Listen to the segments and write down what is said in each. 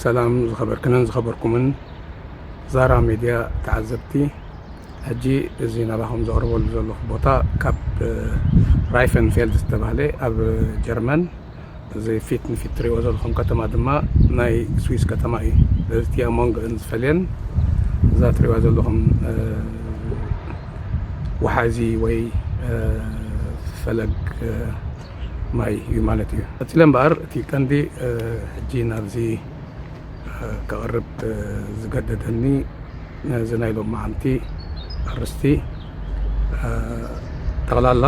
ሰላም ዝኸበርክንን ዝኸበርኩምን ዛራ ሜድያ ተዓዘብቲ ሕጂ እዚ ናባኹም ዘቕርበሉ ዘለኹ ቦታ ካብ ራይፈንፌልድ ዝተባህለ ኣብ ጀርመን እዚ ፊት ንፊት ትሪእዎ ዘለኹም ከተማ ድማ ናይ ስዊስ ከተማ እዩ ስለዚ እቲ ኣብ መንጎአን ዝፈልየን እዛ ትሪእዋ ዘለኹም ወሓዚ ወይ ፈለግ ማይ እዩ ማለት እዩ። ቀጺለ እምበኣር እቲ ቀንዲ ሕጂ ናብዚ ከቕርብ ዝገደደኒ ነዚ ናይ ሎማዓንቲ ኣርስቲ ጠቕላላ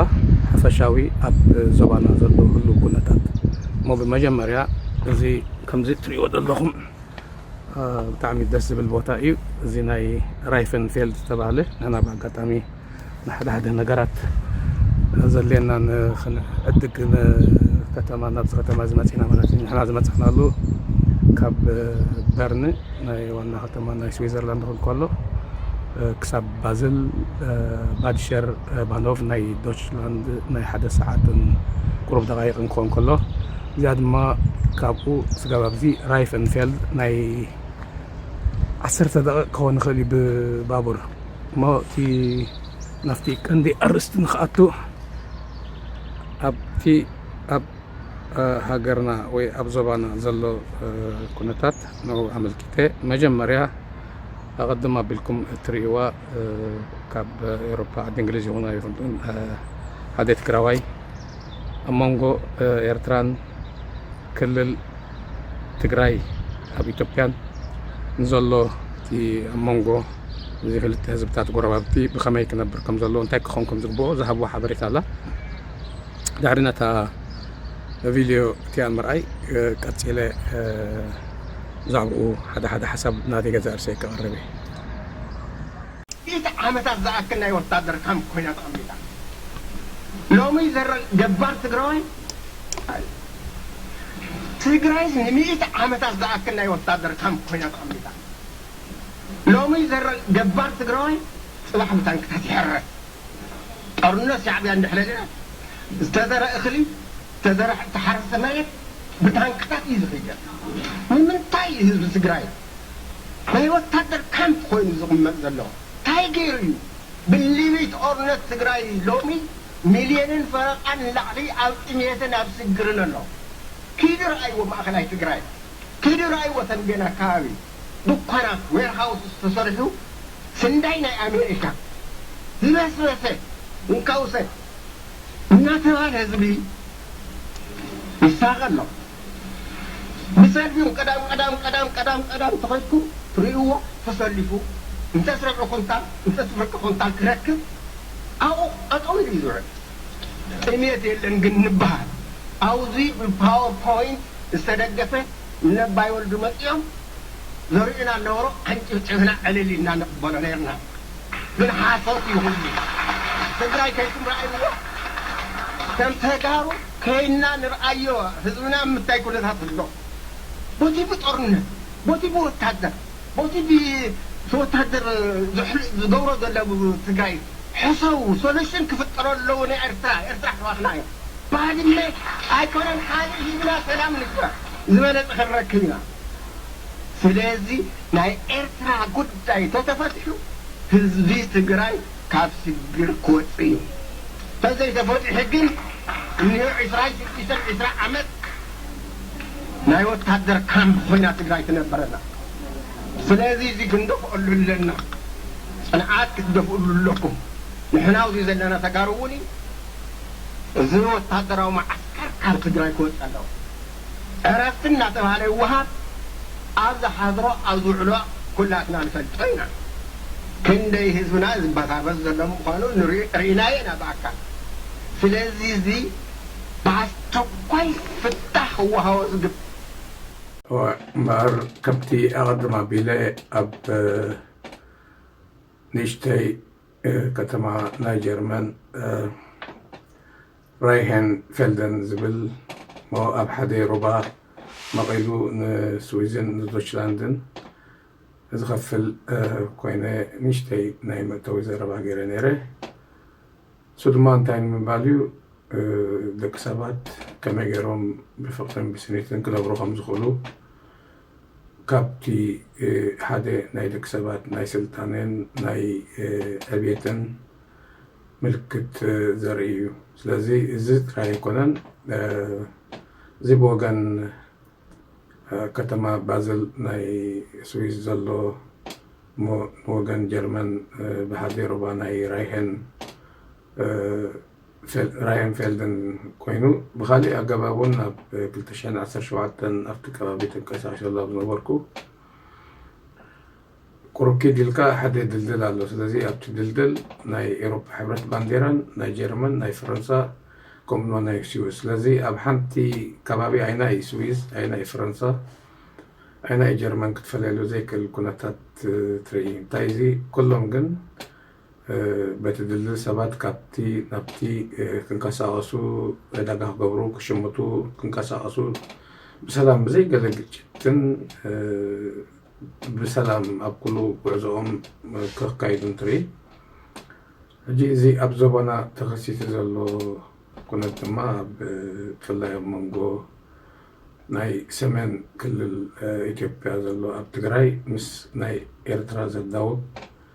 ሓፈሻዊ ኣብ ዞባና ዘሎ ህሉው ኩነታት እሞ ብመጀመርያ እዚ ከምዚ እትርእይዎ ዘለኹም ብጣዕሚ ደስ ዝብል ቦታ እዩ። እዚ ናይ ራይፈንፌልድ ዝተባህለ ንሕና ብኣጋጣሚ ንሓደ ሓደ ነገራት ዘድልየና ንክንዕድግ ንከተማ ናብዚ ከተማ እዚ መፂእና ማለት እዩ። ንሕና ዝመፃእናሉ ካብ በርን ናይ ዋና ከተማ ናይ ስዊዘርላንድ ክንከሎ ክሳብ ባዝል ባድሸር ባኖቭ ናይ ዶችላንድ ናይ ሓደ ሰዓትን ቁሩብ ደቃይቅን ክኾን ከሎ እዚኣ ድማ ካብኡ ስጋብ ኣብዚ ራይፈንፌልድ ናይ ዓሰርተ ደቂቅ ክኾን ይኽእል እዩ ብባቡር እሞ እቲ ናብቲ ቀንዲ ኣርእስቲ ንክኣቱ ኣብቲ ኣብ ሃገርና ወይ ኣብ ዞባና ዘሎ ኩነታት ንኡ ኣመልኪተ መጀመርያ ኣቐድም ኣቢልኩም እትርእይዋ ካብ ኤሮፓ ዓዲ እንግሊዝ ይኹን ኣይኹን ሓደ ትግራዋይ ኣብ መንጎ ኤርትራን ክልል ትግራይ ኣብ ኢትዮጵያን ንዘሎ እቲ ኣብ መንጎ እዚ ክልተ ህዝብታት ጎረባብቲ ብኸመይ ክነብር ከም ዘለዎ እንታይ ክኸውን ከም ዝግብኦ ዝሃብዎ ሓበሬታ ኣላ ድሕሪ ነታ ቪድዮ እቲኣ ምርኣይ ቀፂለ ብዛዕባኡ ሓደ ሓደ ሓሳብ ናተይ ገዛ እርሰይ ከቕርብ እየ ሚእቲ ዓመታት ዝኣክል ናይ ወታደር ካምፕ ኮይና ተቐሚጣ ሎሚ ዘረ ገባር ትግራዋይ ኣዩ። ትግራይስ ንሚእቲ ዓመታት ዝኣክል ናይ ወታደር ካምፕ ኮይና ተቐሚጣ ሎሚ ዘረ ገባር ትግራዋይ ፅባሕ ብታንክታት ይሕረስ። ጦርነት ሻዕቢያ እንድሕሪ ሪኣ ዝተዘረ እኽሊ ዝተዘረ ተሓረስተ መሬት ብታንክታት እዩ ዝኽየድ። ንምንታይ እዩ ህዝቢ ትግራይ ናይ ወታደር ካምፕ ኮይኑ ዝቅመጥ ዘሎ ታይ ገይሩ እዩ ብሊቢት ኦርነት ትግራይ ሎሚ ሚልየንን ፈረቃን ንላዕሊ ኣብ ጥምየትን ኣብ ስግርን ኣሎ ኪዱ ረኣይዎ ማእከላይ ትግራይ ኪዱ ረኣይዎ ተምቤን ኣካባቢ ዱኳናት ዌርሃውስስ ተሰሪሑ ስንዳይ ናይ ኣሜሪካ ዝበስበሰ እንካውሰ እናተባህለ ህዝቢ ይሳቀ ኣሎ። ንሰልፊ ቀዳም ቀዳም ቀዳም ቀዳም ቀዳም ተኸድኩም ርእይዎ ተሰሊፉ እንተስ ርብዒ ኩንታል እንተስ ፍርቂ ኩንታል ክረክብ ኣብኡ ጠጠው ኢሉ እዩ ዝውዕል ጥምየት የለን ግን ንብሃል ኣውዚ ብፓወር ፖይንት ዝተደገፈ ንነባይ ወልዱ መጺኦም ዘርእዩና ነበሩ ኣንጭብጭብና ዕልል ኢልና ንቕበሎ ነርና ግን ሓሶት እዩ ኩሉ ትግራይ ከይትም ርኣይዎ ከም ተጋሩ ከይንና ንርኣዮ ህዝብና ኣብ ምታይ ኩነታት ኣሎ ቦቲ ብጦርነት ቦቲ ብወታደር ቦቲ ብወታደር ዝገብሮ ዘሎ ኣብ ትግራይ ሕሰቡ ሶለሽን ክፍጠሮ ኣለዎ ናይ ኤርትራ ኤርትራ ኣሕዋትና እዮም ባድመ ኣይኮነን ሓሊፍ ሂብና ሰላም ንግበር ዝበለጸ ክንረክብ ኢና ስለዚ ናይ ኤርትራ ጉዳይ ተተፈቲሑ ህዝቢ ትግራይ ካብ ስግር ክወጽእ እዩ ተዘይ ተፈቲሑ ግን እንሆ ዕስራን ሽዱሽተን ዕስራ ዓመት ናይ ወታደር ካምፕ ኮይና ትግራይ ትነብረና ስለዚ እዚ ክንደፍኦሉ ኣለና ጽንዓት ክትደፍኡሉ ኣለኩም ንሕና ኣብዚ ዘለና ተጋሩ እውን እዩ እዚ ወታደራዊ መዓስከር ካብ ትግራይ ክወጽእ ኣለዎ። ዕረፍቲ እናተብሃለ ይወሃብ ኣብ ዝሓድሮ ኣብ ዝውዕሎ ኩላትና ንፈልጦ ኢና ክንደይ ህዝብና ዝበታበስ ዘሎ ምኳኑ ሪኢናዮ ኢና ብኣካል ስለዚ እዚ ብኣስቸኳይ ፍታሕ ክወሃቦ ዝግብ። እምበኣር ከምቲ ኣቐድም ኣቢለ ኣብ ንእሽተይ ከተማ ናይ ጀርመን ራይሄን ፌልደን ዝብል እሞ ኣብ ሓደ ሩባ መቒሉ ንስዊዝን ንዶችላንድን ዝኸፍል ኮይነ ንእሽተይ ናይ መእተዊ ዘረባ ገይረ ነይረ። እሱ ድማ እንታይ ንምባል እዩ ደቂ ሰባት ከመይ ገይሮም ብፍቕርን ብስኒትን ክነብሩ ከም ዝኽእሉ ካብቲ ሓደ ናይ ደቂ ሰባት ናይ ስልጣኔን ናይ ዕብየትን ምልክት ዘርኢ እዩ። ስለዚ እዚ ጥራይ ኣይኮነን፣ እዚ ብወገን ከተማ ባዘል ናይ ስዊዝ ዘሎ እሞ ንወገን ጀርመን ብሃዜሮባ ናይ ራይሄን ራየንፌልድን ኮይኑ ብካሊእ ኣገባብ እውን ኣብ 217 ኣብቲ ከባቢ ተንቀሳቅሸሉ ኣብ ዝነበርኩ ቁሩብ ኪድ ኢልካ ሓደ ድልድል ኣሎ ስለዚ ኣብቲ ድልድል ናይ ኤሮፓ ሕብረት ባንዴራን ናይ ጀርመን ናይ ፈረንሳ ከምኡ ድማ ናይ ስዊዝ ስለዚ ኣብ ሓንቲ ከባቢ ኣይና እዩ ስዊዝ ኣይና እዩ ፈረንሳ ኣይና እዩ ጀርመን ክትፈለየሉ ዘይክእል ኩነታት ትርኢ እንታይ እዚ ኩሎም ግን በቲ ድልድል ሰባት ካብቲ ናብቲ ክንቀሳቀሱ ዕዳጋ ክገብሩ ክሽምቱ ክንቀሳቀሱ ብሰላም ብዘይ ገለ ግጭትን ብሰላም ኣብ ኩሉ ጉዕዞኦም ከካይዱ እንትርኢ ሕጂ እዚ ኣብ ዞባና ተኸሲቱ ዘሎ ኩነት ድማ ብፍላይ ኣብ መንጎ ናይ ሰሜን ክልል ኢትዮጵያ ዘሎ ኣብ ትግራይ ምስ ናይ ኤርትራ ዘዳውብ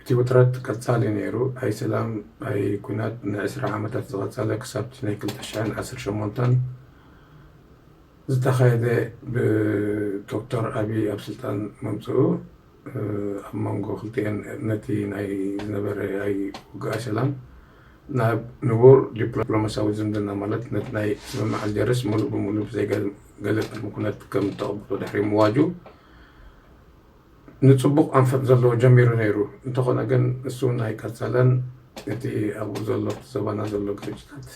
እቲ ውጥረት ቀጻሊ ነይሩ፣ ኣይ ሰላም ኣይ ኲናት ንዕስራ ዓመታት ዝቐጸለ ክሳብቲ ናይ ክልተ ሽሕን ዓሰርተ ሸሞንተን ዝተኻየደ ብዶክተር ኣቢይ ኣብ ስልጣን ምምጽኡ ኣብ መንጎ ክልቲኤን ነቲ ናይ ዝነበረ ኣይ ውግእ ኣይ ሰላም ናብ ንቡር ዲፕሎማስያዊ ዝምድና ማለት ነቲ ናይ ስምምዕ ኣልጀርስ ምሉእ ብምሉእ ብዘይ ገለ ቅድሚ ኩነት ከም እተቐብሎ ድሕሪ ምዋጁ ንጽቡቕ ኣንፈት ዘለዎ ጀሚሩ ነይሩ፣ እንተኾነ ግን ንሱውን ኣይቀጸለን፣ እቲ ኣብኡ ዘሎ ኣብቲ ዞባና ዘሎ ግርጭታት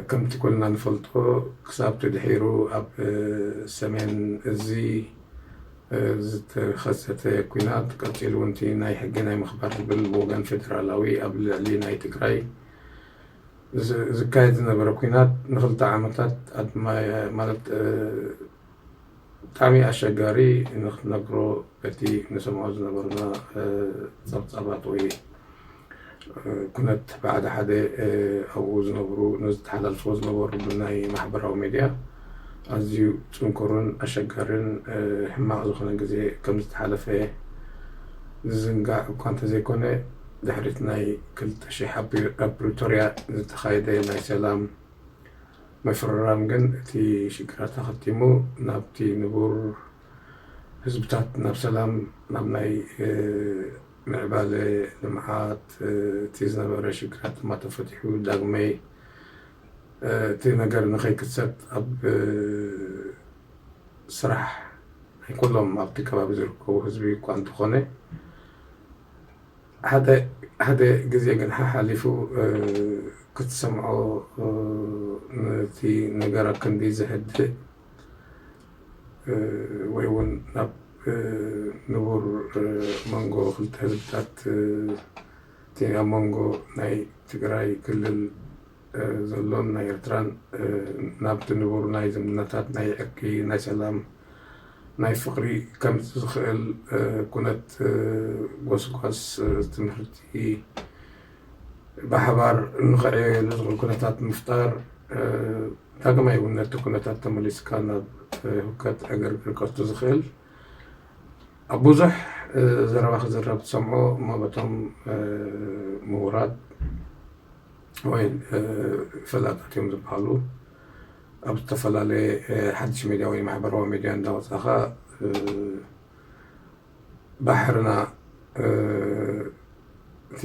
ከምቲ ኩልና ንፈልጦ ክሳብቲ ድሒሩ ኣብ ሰሜን እዚ ዝተኸሰተ ኩናት ቀጺሉውን እቲ ናይ ሕጊ ናይ ምኽባር ዝብል ብወገን ፌደራላዊ ኣብ ልዕሊ ናይ ትግራይ ዝካየድ ዝነበረ ኩናት ንኽልተ ዓመታት ማለት ብጣዕሚ ኣሸጋሪ ንክትነግሮ እቲ ንሰምዖ ዝነበርና ጸብጻባት ወይ ኩነት ብሓደ ሓደ ኣብኡ ዝነብሩ ንዝተሓላልፍዎ ዝነበሩ ብናይ ማሕበራዊ ሜድያ ኣዝዩ ጽንኩርን ኣሸጋርን ሕማቕ ዝኾነ ግዜ ከም ዝተሓለፈ ዝዝንጋዕ እኳ እንተዘይኮነ ድሕሪት ናይ ክልተ ሽሕ ኣብ ፕሪቶርያ ዝተኻየደ ናይ ሰላም ምፍርራም ግን እቲ ሽግራት ኣኸቲሙ ናብቲ ንቡር ህዝብታት ናብ ሰላም ናብ ናይ ምዕባለ ልምዓት እቲ ዝነበረ ሽግራት ድማ ተፈቲሑ ዳግመይ እቲ ነገር ንኸይክሰት ኣብ ስራሕ ናይ ኩሎም ኣብቲ ከባቢ ዝርከቡ ህዝቢ እኳ እንተኾነ ሓደ ሓደ ግዜ ግን ሓሓሊፉ ክትሰምዖ ነቲ ነገር ኣክንዲ ዘህድእ ወይ ውን ናብ ንቡር መንጎ ክልተ ህዝብታት እቲ ኣብ መንጎ ናይ ትግራይ ክልል ዘሎን ናይ ኤርትራን ናብቲ ንቡር ናይ ዝምድናታት፣ ናይ ዕርቂ፣ ናይ ሰላም፣ ናይ ፍቕሪ ከምጽእ ዝኽእል ኩነት ጎስጓስ ትምህርቲ ብሓባር ንኽዕየየሉ ዝኽእል ኩነታት ምፍጣር ዳግማይ እውን ነቲ ኩነታት ተመሊስካ ናብ ህውከት ዕግርግር ከእቱ ዝኽእል ኣብ ብዙሕ ዘረባ ክዝረብ ትሰምዖ እሞ በቶም ምሁራት ወይ ፈላጣት እዮም ዝብሃሉ ኣብ ዝተፈላለየ ሓድሽ ሚድያ ወይ ማሕበራዊ ሚድያ እንዳወፃኻ ባሕርና እቲ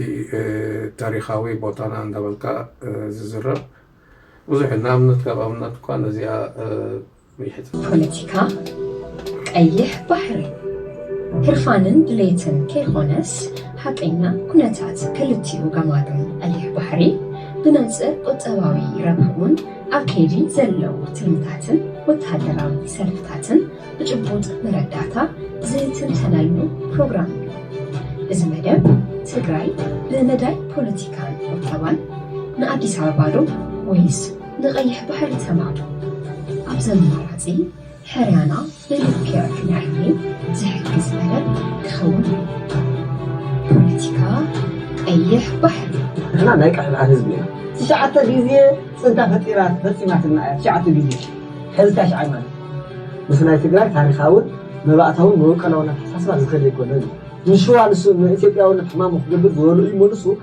ታሪካዊ ቦታና እንዳበልካ ዝዝረብ ብዙሕ ንኣብነት ካብ ኣብነት እኳ ነዚኣ ፖለቲካ ቀይሕ ባሕሪ ህርፋንን ድሌትን ከይኾነስ ሓቀኛ ኩነታት ክልቲኡ ገማግም ቀይሕ ባሕሪ ብመንፅር ቁጠባዊ ረብሕኡን ኣብ ከይዲ ዘለዉ ትልምታትን ወታደራዊ ሰልፍታትን ብጭቡጥ መረዳእታ ዝትንተነሉ ፕሮግራም እዩ። እዚ መደብ ትግራይ ብመዳይ ፖለቲካን ቁጠባን ንኣዲስ ኣበባ ዶ ወይስ ንቀይሕ ባሕሪ ተማም ኣብዚ ኣማራጺ ሕርያና ብልክዕ ክንዕሊ ዝሕግዝ መደብ ክኸውን እዩ። ፖለቲካ ቀይሕ ባሕሪ። ንሕና ናይ ቀይሕ ባሕሪ ህዝቢ ኢና። ትሽዓተ ግዜ ፅንታ ፈጢራ ፈፂማትና እያ ትሽዓተ ግዜ ሐዚ ታሽዓይ ማለት ምስ ናይ ትግራይ ታሪኻውን መባእታውን መበቀላውን ኣተሓሳስባ ዝኸድ ኣይኮነን እዩ ንሽዋ ንሱ ንኢትዮጵያውነት ሕማሙ ክገብር ዝበልኡ ይመልሱ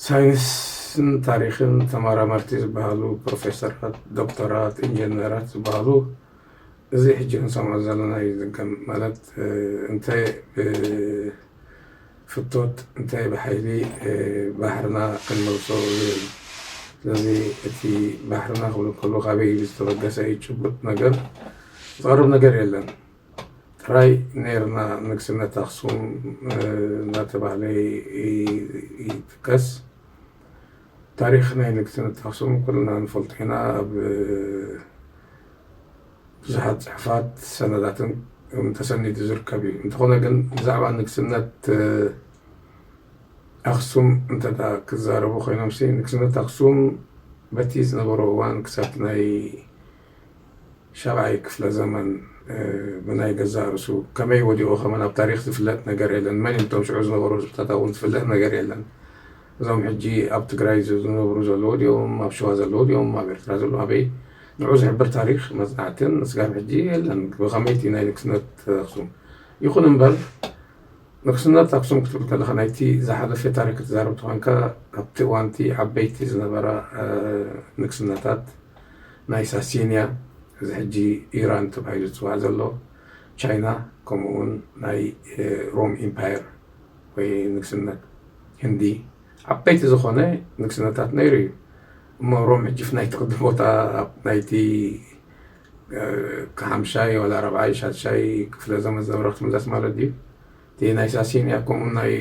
ሳይንስን ታሪኽን ተመራመርቲ ዝበሃሉ ፕሮፌሰራት፣ ዶክተራት፣ ኢንጀነራት ዝበሃሉ እዚ ሕጂ ክንሰምዖ ዘለና እዩ ዝድገም ማለት እንተ ብፍቶት እንተ ብሓይሊ ባሕርና ክንመልሶ ዝብል ስለዚ እቲ ባሕርና ክብሉ ከለዉ ካበይ ዝተበገሰ እዩ ጭቡጥ ነገር ዝቐርብ ነገር የለን። ጥራይ ነይርና ንግስነት ኣክሱም እናተባህለ ይጥቀስ ታሪክ ናይ ንግስነት ኣክሱም ኩልና ንፈልጦ ኢና ኣብ ብዙሓት ፅሑፋት ሰነዳትን ተሰኒዱ ዝርከብ እዩ እንተኾነ ግን ብዛዕባ ንግስነት ኣክሱም እንተ ክዛረቡ ኮይኖምሲ ንግስነት ኣክሱም በቲ ዝነበሮ እዋን ክሳብ ናይ ሻብዓይ ክፍለ ዘመን ብናይ ገዛእ ርእሱ ከመይ ወዲቑ ከመን ኣብ ታሪኽ ዝፍለጥ ነገር የለን። መን እቶም ሽዑ ዝነበሩ ህዝብታት ኣብኡ ዝፍለጥ ነገር የለን። እዞም ሕጂ ኣብ ትግራይ ዝነብሩ ዘለዉ ድኦም ኣብ ሸዋ ዘለዉ ድኦም ኣብ ኤርትራ ዘለዉ ኣበይ ንዑ ዝሕብር ታሪኽ መጽናዕትን እስጋብ ሕጂ የለን። ብኸመይ እቲ ናይ ንግስነት ኣክሱም ይኹን እምበር ንግስነት ኣክሱም ክትብል ከለኻ ናይቲ ዝሓለፈ ታሪክ ክትዛረብ ተኾንካ ኣብቲ እዋንቲ ዓበይቲ ዝነበራ ንግስነታት ናይ ሳሲንያ እዚ ሕጂ ኢራን ተባሂሉ ዝጽዋዕ ዘሎ ቻይና ከምኡ ውን ናይ ሮም ኢምፓየር ወይ ንግስነት ህንዲ ዓበይቲ ዝኾነ ንግስነታት ነይሩ እዩ እሞ ሮም ሕጂ ፍናይቲ ቅዲ ቦታ ኣብ ናይቲ ከሓምሻይ ዋላ ራብዓይ ሻድሻይ ክፍለ ዘመን ዝነበረ ክትምለስ ማለት ድዩ እቲ ናይ ሳሲንያ ከምኡ ናይ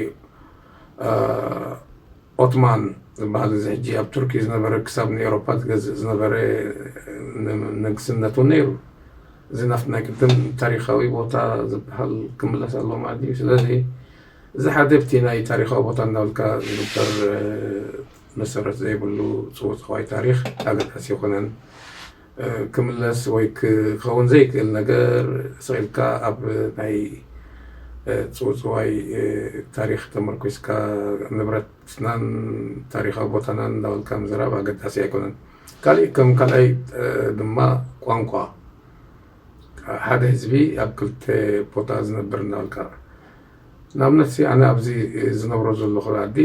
ኦትማን ዝበሃል እዚ ሕጂ ኣብ ቱርኪ ዝነበረ ክሳብ ንኤሮፓ ዝገዝእ ዝነበረ ንግስነት እውን ነይሩ እዚ ናብቲ ናይ ቅድም ታሪካዊ ቦታ ዝበሃል ክምለስ ኣሎ ማለት እዩ ስለዚ እዚ ሓደ ብቲ ናይ ታሪካዊ ቦታ እናብልካ ዝግበር መሰረት ዘይብሉ ፅውፅዋይ ታሪክ ኣገዳሲ ይኮነን ክምለስ ወይ ክኸውን ዘይክእል ነገር ስቕ ኢልካ ኣብ ናይ ጽውጽዋይ ታሪኽ ተመርኲስካ ንብረትናን ታሪኻዊ ቦታናን እንዳበልካ ምዝራብ ኣገዳሲ ኣይኮነን። ካሊእ ከም ካልኣይ ድማ ቋንቋ ሓደ ህዝቢ ኣብ ክልተ ቦታ ዝነብር እንዳበልካ ንኣብነትሲ ኣነ ኣብዚ ዝነብሮ ዘለኹ ዓዲ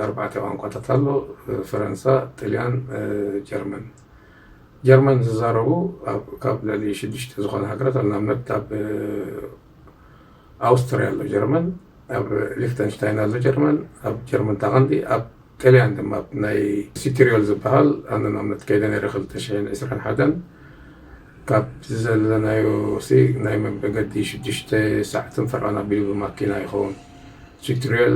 ኣርባዕተ ቋንቋታት ኣሎ ፈረንሳ፣ ጥልያን፣ ጀርመን። ጀርመን ዝዛረቡ ካብ ልዕሊ ሽዱሽተ ዝኾና ሃገራት ኣብ ንኣብነት ኣብ ኣውስትርያ ኣሎ ጀርመን ኣብ ሊክተንሽታይን ኣሎ ጀርመን ኣብ ጀርመን ታቐንዲ ኣብ ጥልያን ድማ ኣብ ናይ ሲትሪዮል ዝበሃል ኣነ ንኣብነት ከይደ ነይረ ክልተ ሽሕን ዕስራን ሓደን ካብ ዘለናዮ ሲ ናይ መገዲ ሽዱሽተ ሰዓትን ፈርቓን ኣቢሉ ብማኪና ይኸውን ቱቶሪያል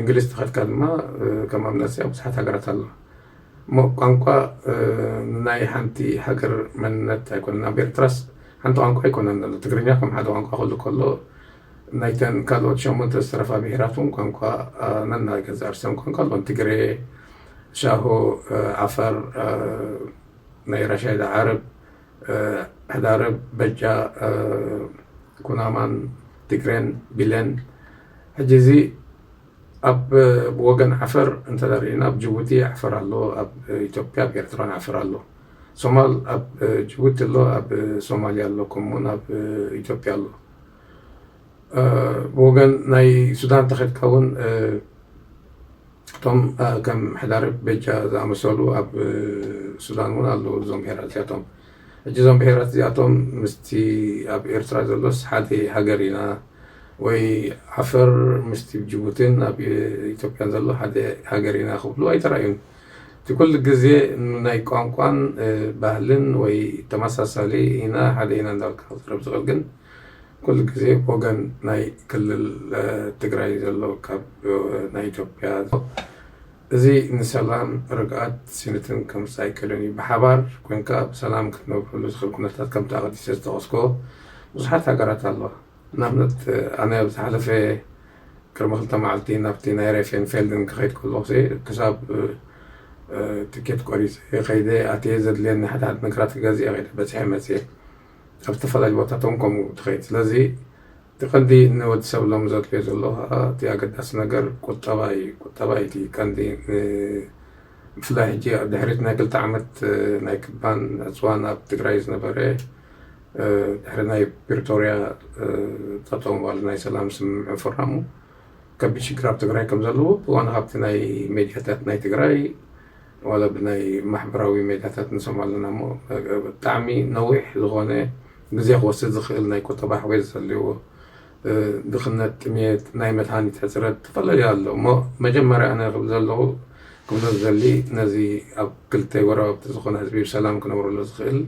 እንግሊዝ ተኸድካ ድማ ከም ኣብነት ብዙሓት ሃገራት ኣሎ እሞ ቋንቋ ናይ ሓንቲ ሃገር መንነት ኣይኮነን ኣብ ኤርትራስ ሓንቲ ቋንቋ ኣይኮነን ዘሎ ትግርኛ ከም ሓደ ቋንቋ ክሉ ከሎ ናይተን ካልኦት ሸሞንተ ዝተረፋ ብሄራት እውን ቋንቋ ነናይ ገዛ ርሰን ቋንቋ ኣሎን ትግሬ ሻሆ ዓፋር ናይ ራሻይዳ ዓረብ ሕዳረብ በጃ ኩናማን ትግሬን ቢለን ሕጂ እዚ ኣብ ብወገን ዓፈር እንተ ሪኢና ኣብ ጅቡቲ ዓፈር ኣሎ ኣብ ኢትዮጵያ ኣብ ኤርትራን ዓፈር ኣሎ ሶማል ኣብ ጅቡቲ ኣሎ ኣብ ሶማልያ ኣሎ ከምኡ እውን ኣብ ኢትዮጵያ ኣሎ ብወገን ናይ ሱዳን እንተኸድካ እውን እቶም ከም ሕዳርብ ቤጃ ዝኣመሰሉ ኣብ ሱዳን እውን ኣለዉ እዞም ብሄራት እዚኣቶም ሕጂ እዞም ብሄራት እዚኣቶም ምስቲ ኣብ ኤርትራ ዘሎስ ሓደ ሃገር ኢና ወይ ዓፈር ምስቲ ብ ጅቡቲን ኣብ ኢትዮጵያን ዘሎ ሓደ ሃገር ኢና ክብሉ ኣይተራእዩን። እቲ ኩሉ ግዜ ንናይ ቋንቋን ባህልን ወይ ተመሳሳሊ ኢና ሓደ ኢና እንዳበልካ ክዛረብ ዝኽእል ግን ኩሉ ግዜ ብወገን ናይ ክልል ትግራይ ዘሎ ካብ ናይ ኢትዮጵያ እዚ ንሰላም፣ ርግኣት፣ ስኒትን ከምጽእ ኣይክእልን እዩ። ብሓባር ኮንካ ብሰላም ክትነብረሉ ዝኽእል ኩነታት ከምቲ ኣቐዲሰ ዝጠቐስኩዎ ብዙሓት ሃገራት ኣሎ። ንኣብነት ኣነ ኣብ ዝሓለፈ ቅድሚ ክልተ መዓልቲ ናብቲ ናይ ሬፌንፌልድን ክኸይድ ከለኹሲ ክሳብ ትኬት ቆሪጸ ከይደ ኣትየ ዘድልየኒ ሓደ ሓደ ነገራት ክገዝእ እየ ከይደ በጺሐ መጽየ። ኣብ ዝተፈላለዩ ቦታታት እውን ከምኡ ትኸይድ ስለዚ እቲ ቀንዲ ንወድሰብ ሎሚ ዘድልዮ ዘሎ ከኣ እቲ ኣገዳሲ ነገር ቁጠባ ኢዩ። ቁጠባ ኢዩ እቲ ቀንዲ ብፍላይ ሕጂ ድሕሪ ናይ ክልተ ዓመት ናይ ክባን ዕጽዋን ኣብ ትግራይ ዝነበረ ድሕሪ ናይ ፕሪቶርያ ጠጠው ምባሉ ናይ ሰላም ስምምዕ ምፍራሙ ከቢድ ሽግር ኣብ ትግራይ ከም ዘለዎ ብዋና ሃብቲ ናይ ሜድያታት ናይ ትግራይ ዋላ ብናይ ማሕበራዊ ሜዳታት ንሰምዖ ኣለና እሞ ብጣዕሚ ነዊሕ ዝኾነ ግዜ ክወስድ ዝኽእል ናይ ቁጠባ ሕውየት ዘልዎ ድኽነት ጥምየት ናይ መድሃኒት ሕጽረት ተፈላለዩ ኣሎ እሞ መጀመርያ ኣነ ክብል ዘለኹ ክብሎ ዝደሊ ነዚ ኣብ ክልተ ጎረባብቲ ዝኾነ ህዝቢ ብሰላም ክነብረሉ ዝኽእል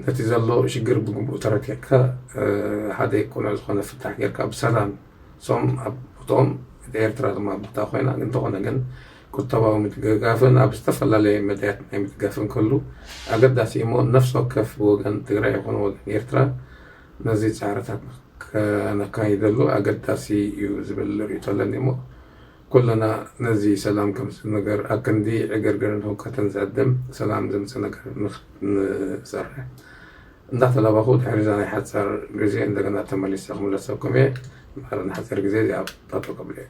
ነቲ ዘሎ ሽግር ብግቡእ ተረዲዕካ ሓደ ቅኑዕ ዝኾነ ፍታሕ ጌርካ ብሰላም ሶም ኣብ ቦትኦም ኤርትራ ድማ ኣብ ቦታ ኮይና እንተኾነ ግን ቁጠባዊ ምድግጋፍን ኣብ ዝተፈላለየ መዳያት ናይ ምድጋፍ እንከሉ ኣገዳሲ እዩ እሞ ነፍሲ ወከፍ ብወገን ትግራይ ይኹን ወገን ኤርትራ ነዚ ጻዕርታት ከነካይደሉ ኣገዳሲ እዩ ዝብል ርእይቶ ኣለኒ እሞ ኩልና ነዚ ሰላም ከምጽእ ነገር ኣክንዲ ዕግርግርን ህውከትን ዝዕድም ሰላም ዘምጽእ ነገር ንሰርሕ እንዳተላባኹ ድሕሪ እዛ ናይ ሓጻር ግዜ እንደገና ተመሊሰ ክምለሰኩም እየ ማረ ንሓጺር ግዜ እዚኣ ጣጠው ከብለ እየ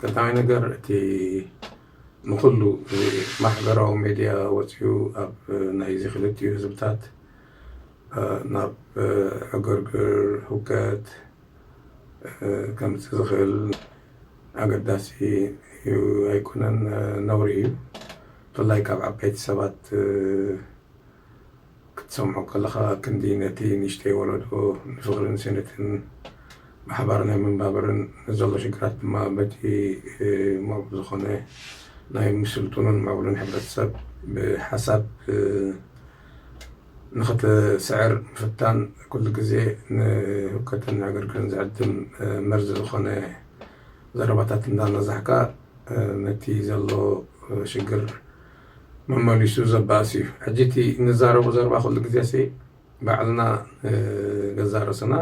ቀዳማይ ነገር እቲ ንኹሉ ማሕበራዊ ሜድያ ወፂኡ ኣብ ናይዚ ክልቲኡ ህዝብታት ናብ ዕግርግር ህውከት ከምፅእ ዝኽእል ኣገዳሲ ኣይኮነን ነውሪ እዩ ብፍላይ ካብ ዓበይቲ ሰባት ክትሰምዖ ከለኻ ክንዲ ነቲ ንእሽተይ ወለዶ ንፍቕርን ስኒትን ብሓባር ናይ ምንባብርን ንዘሎ ሽግራት ድማ በቲ ምዕቡል ዝኾነ ናይ ምስልጡንን ምዕቡልን ሕብረተሰብ ብሓሳብ ንኽትስዕር ምፍታን ኩሉ ግዜ ንህውከትን ዕግርግርን ዝዕድም መርዚ ዝኾነ ዘረባታት እንዳነዛሕካ ነቲ ዘሎ ሽግር መመሊሱ ዘባእስ እዩ ሕጂ እቲ እንዛረቦ ዘረባ ኩሉ ግዜሲ ባዕልና ንገዛእ ርእስና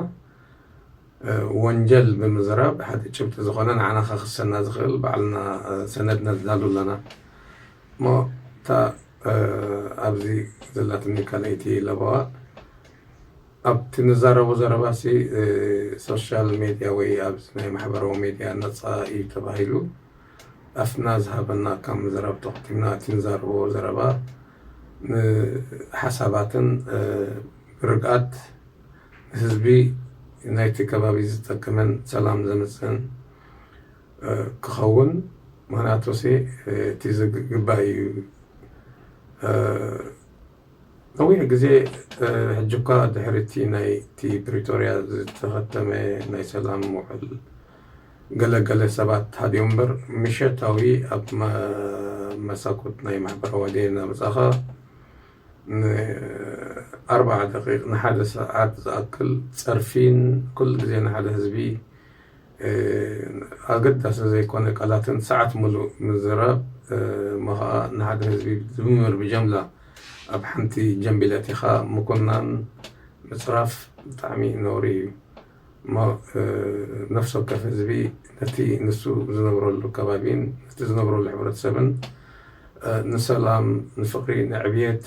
ወንጀል ብምዝራብ ሓደ ጭብጢ ዝኾነ ንዓና ከኽሰና ዝኽእል ባዕልና ሰነድ ነዳሉ ኣለና እሞ እታ ኣብዚ ዘላትኒ ካልኣይቲ ለበዋ ኣብቲ ንዛረቦ ዘረባሲ ሶሻል ሜድያ ወይ ኣብዚ ናይ ማሕበራዊ ሜድያ ነፃ እዩ ተባሂሉ ኣፍና ዝሃበና ካብ ምዝራብ ተቆጢብና እቲ ንዛረቦ ዘረባ ንሓሳባትን ብርግኣት ንህዝቢ ናይቲ ከባቢ ዝጠቅምን ሰላም ዘምጽእን ክኸውን ምክንያቱሲ እቲ ዝግባእ እዩ። ነዊሕ ግዜ ሕጂኳ ድሕሪ'ቲ ናይቲ ፕሪቶርያ ዝተኸተመ ናይ ሰላም ውዕል ገለ ገለ ሰባት ሃዲኦም'ምበር፣ ምሸታዊ ኣብ መሳኩት ናይ ማሕበራዋድየ እናመጻኻ ን ኣርብዓ ደቒቕ ንሓደ ሰዓት ዝኣክል ጸርፊን ኩሉ ግዜ ንሓደ ህዝቢ ኣገዳሲ ዘይኮነ ቃላትን ሰዓት ምሉእ ምዝራብ እሞ ኸኣ ንሓደ ህዝቢ ብድምር ብጀምላ ኣብ ሓንቲ ጀምቢል ኣእቲኻ ምኩናን ምጽራፍ ብጣዕሚ ነውሪ እዩ እሞ ነፍሲ ወከፍ ህዝቢ ነቲ ንሱ ዝነብረሉ ከባቢን ነቲ ዝነብረሉ ሕብረተሰብን ንሰላም ንፍቕሪ ንዕብየት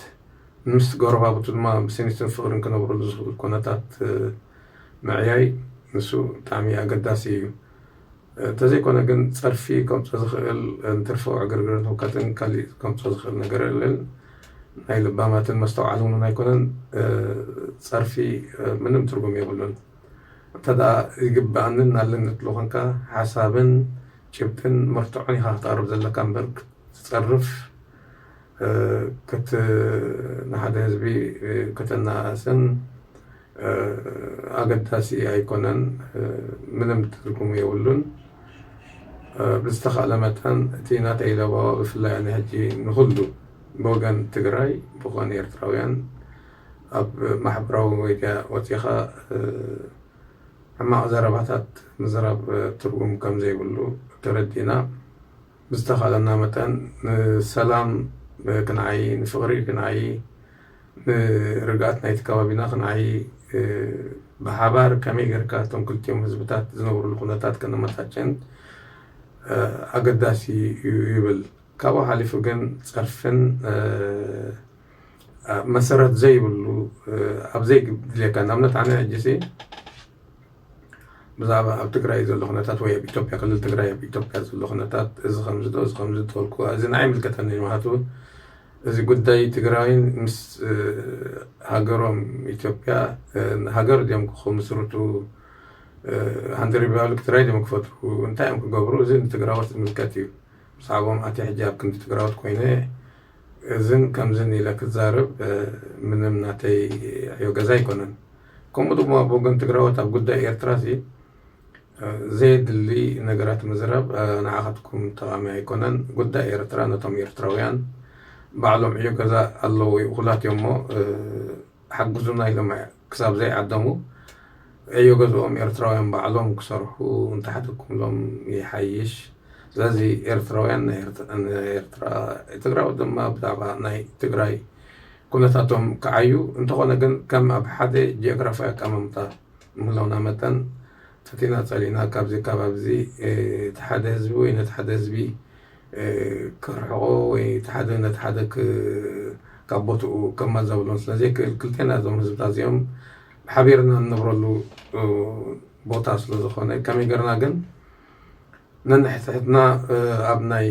ምስ ጎረባብቱ ድማ ብስኒትን ፍቕርን ክነብረሉ ዝኽእል ኩነታት ምዕያይ ንሱ ብጣዕሚ ኣገዳሲ እዩ። እንተዘይኮነ ግን ጸርፊ ከምጾ ዝኽእል እንትርፎ ዕግርግርን ህውከትን ካሊእ ከምጾ ዝኽእል ነገር የለን። ናይ ለባማትን መስተውዓልን እውን ኣይኮነን። ጸርፊ ምንም ትርጉም የብሉን። እንተድኣ ይግብኣንን ኣለንን ትብሎ ኮንካ ሓሳብን ጭብጥን መርትዖን ኢኻ ክተቕርብ ዘለካ እምበር ክትጸርፍ ንሓደ ህዝቢ ከተነኣእስን ኣገዳሲ ኣይኮነን ምንም ትርጉም የብሉን ብዝተካእለ መጠን እቲ ናተይ ለበዋ ብፍላይ ኣነ ሕጂ ንኩሉ ብወገን ትግራይ ብኮን ኤርትራውያን ኣብ ማሕበራዊ ሚድያ ወጺካ ሕማቅ ዘረባታት ምዝራብ ትርጉም ከምዘይብሉ ተረዲእና ብዝተካእለና መጠን ንሰላም ክንዓዪ ንፍቅሪ ክንዓዪ ንርግኣት ናይቲ ከባቢና ክንዓዪ ብሓባር ከመይ ጌርካ እቶም ክልቲኦም ህዝብታት ዝነብሩሉ ኩነታት ከነመቻቸን ኣገዳሲ እዩ ይብል። ካብኡ ሓሊፉ ግን ጸርፍን መሰረት ዘይብሉ ኣብ ዘይድልየካ ንኣብነት ኣነ ሕጂሲ ብዛዕባ ኣብ ትግራይ ዘሎ ኩነታት ወይ ኣብ ኢትዮጵያ ክልል ትግራይ ኣብ ኢትዮጵያ ዘሎ ኩነታት እዚ ከምዚ ዶ እዚ ከምዚ ዶ ተበልኩ እዚ ንዓይ ኣይምልከተንን እዩ ምክንያቱ እዚ ጉዳይ ትግራይን ምስ ሃገሮም ኢትዮጵያ ሃገር ድዮም ክምስርቱ ሃንደር ሪባብሊክ ትራይ ድዮም ክፈጥሩ እንታይ እዮም ክገብሩ እዚ ንትግራዎት ዝምልከት እዩ ብዛዕቦም ኣትየ ሕጂ ኣብ ክንዲ ትግራዎት ኮይነ እዝን ከምዝን ኢለ ክዛረብ ምንም ናተይ ዕዮ ገዛ ኣይኮነን ከምኡ ድማ ኣብ ወገን ትግራዎት ኣብ ጉዳይ ኤርትራ እዚ ዘየድሊ ነገራት ምዝራብ ንዓኻትኩም ጠቓሚ ኣይኮነን። ጉዳይ ኤርትራ ነቶም ኤርትራውያን ባዕሎም ዕዮ ገዛ ኣለዎ እኹላት እዮም እሞ ሓግዙና ኢሎም ክሳብ ዘይዓደሙ ዕዮ ገዝኦም ኤርትራውያን ባዕሎም ክሰርሑ እንተሓደግኩምሎም ይሓይሽ። ስለዚ ኤርትራውያን ንኤርትራ ትግራዎት ድማ ብዛዕባ ናይ ትግራይ ኩነታቶም ክዓዩ እንተኾነ ግን ከም ኣብ ሓደ ጂኦግራፋዊ ኣቀማምጣ ምህላውና መጠን ፈቲና ጸሊእና ካብዚ ኣከባቢ እዚ እቲ ሓደ ህዝቢ ወይ ነቲ ሓደ ህዝቢ ከርሕቆ ወይ እቲ ሓደ ነቲ ሓደ ካብ ቦትኡ ከማዛብሎን ስለ ዘይክእል ክልቴና እዞም ህዝብታት እዚኦም ሓቢርና እንነብረሉ ቦታ ስለ ዝኾነ ከመይ ገርና ግን ነንሕድሕድና ኣብ ናይ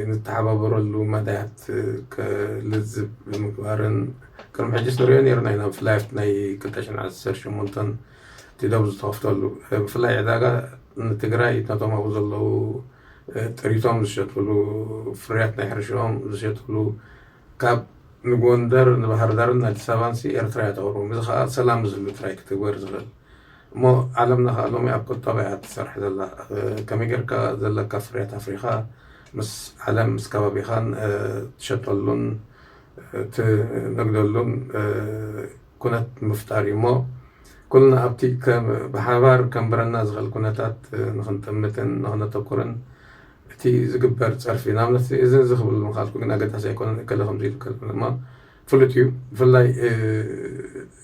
ንተሓባበረሉ መዳያት ልዝብ ብምግባርን ቅድሚ ሕጂስ ንሪኦ ነይርና ኢና ብፍላይ ኣብቲ ናይ ክልተ ሽሕን ዓሰርተ ሸሞንተን እቲ ዶብ ዝተኸፍተሉ ብፍላይ ዕዳጋ ንትግራይ ነቶም ኣብኡ ዘለዉ ጥሪቶም ዝሸጥሉ ፍርያት ናይ ሕርሽኦም ዝሸጥሉ ካብ ንጎንደር ንባህርዳርን ኣዲስ ኣበባን ሲ ኤርትራ እያ ተቕርቦም እዚ ከዓ ሰላም ዝህሉ ጥራይ እዩ ክትግበር ዝኽእል እሞ ዓለምለኸ ሎሚ ኣብ ቁጠባ እያ ትሰርሕ ዘላ ከመይ ጌርካ ዘለካ ፍርያት ኣፍሪኻ ምስ ዓለም ምስ ከባቢኻን ትሸጠሉን ትነግደሉን ኩነት ምፍጣር እዩ እሞ ኩልና ኣብቲ ብሓባር ከንብረና ዝኽእል ኩነታት ንክንጥምትን ንክነተኩርን እቲ ዝግበር ፀርፊ ንኣብነት እዚ እዚ ክብል ምኻልኩ ግን ኣገዳሲ ኣይኮነን እከለ ከምዚ ኢሉ እከለ ፍሉጥ እዩ ብፍላይ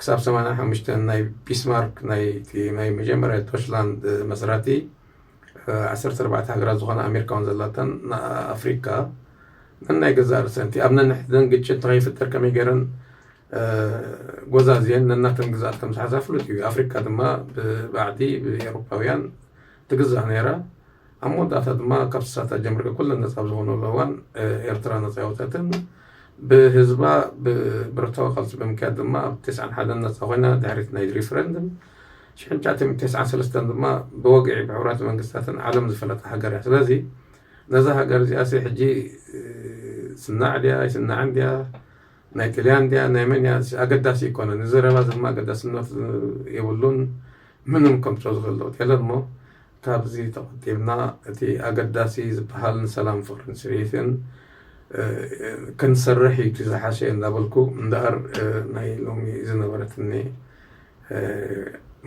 ክሳብ ሰማንያ ሓሙሽተ ናይ ቢስማርክ ናይ መጀመርያ ዶችላንድ መስራቲ ዓሰርተ ኣርባዕተ ሃገራት ዝኾና ኣሜሪካውን ዘላተን ኣፍሪካ ነናይ ገዛእ ርእሰንቲ ኣብ ነንሕድን ግጭት ንኸይፍጠር ከመይ ገይረን ጎዛዝየን ነናተን ግዛኣት ከም ዝሓዛ ፍሉጥ እዩ ኣፍሪካ ድማ ብባዕዲ ብኤሮፓውያን ትግዛእ ነይራ ኣብ መወዳእታ ድማ ካብቲ ሳታ ጀምሪኦ ኩለን ነጻ ኣብ ዝኾናሉ እዋን ኤርትራ ነጻ ኣይወጸትን። ብህዝባ ብብረታዊ ቃልሲ ብምክያድ ድማ ኣብ ተስዓን ሓደን ነጻ ኮይና ድሕሪቲ ናይ ሪፍረንድም ሽሕን ትሽዓተሚእትን ተስዓን ሰለስተን ድማ ብወግዒ ብሕቡራት መንግስታትን ዓለም ዝፈለጣ ሃገር እያ። ስለዚ ነዛ ሃገር እዚኣሲ ሕጂ ትስናዕ ድያ ኣይስናዕን ድያ ናይ ጥልያን ድያ ናይ መን እያ ኣገዳሲ ኣይኮነን። እዚ ዘረባ እዚ ድማ ኣገዳስነት የብሉን ምንም ከምጽኦ ዝኽእል ለውጢ የለን እሞ ካብዚ ተቆጢብና እቲ ኣገዳሲ ዝበሃል ንሰላም ፍቅርን ስኒትን ክንሰርሕ እዩ እቲ ዝሓሸ እንዳበልኩ እምበኣር ናይ ሎሚ ዝነበረትኒ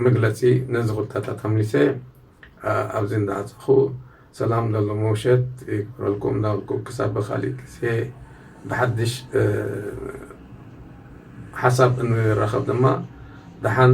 መግለጺ ነዚ ኩታታት ኣምሊሰ ኣብዚ እንዳዓጸኹ ሰላም ለሎ መውሸት ይግበረልኩም እንዳበልኩ ክሳብ ብካሊእ ግዜ ብሓድሽ ሓሳብ እንራኸብ ድማ ደሓን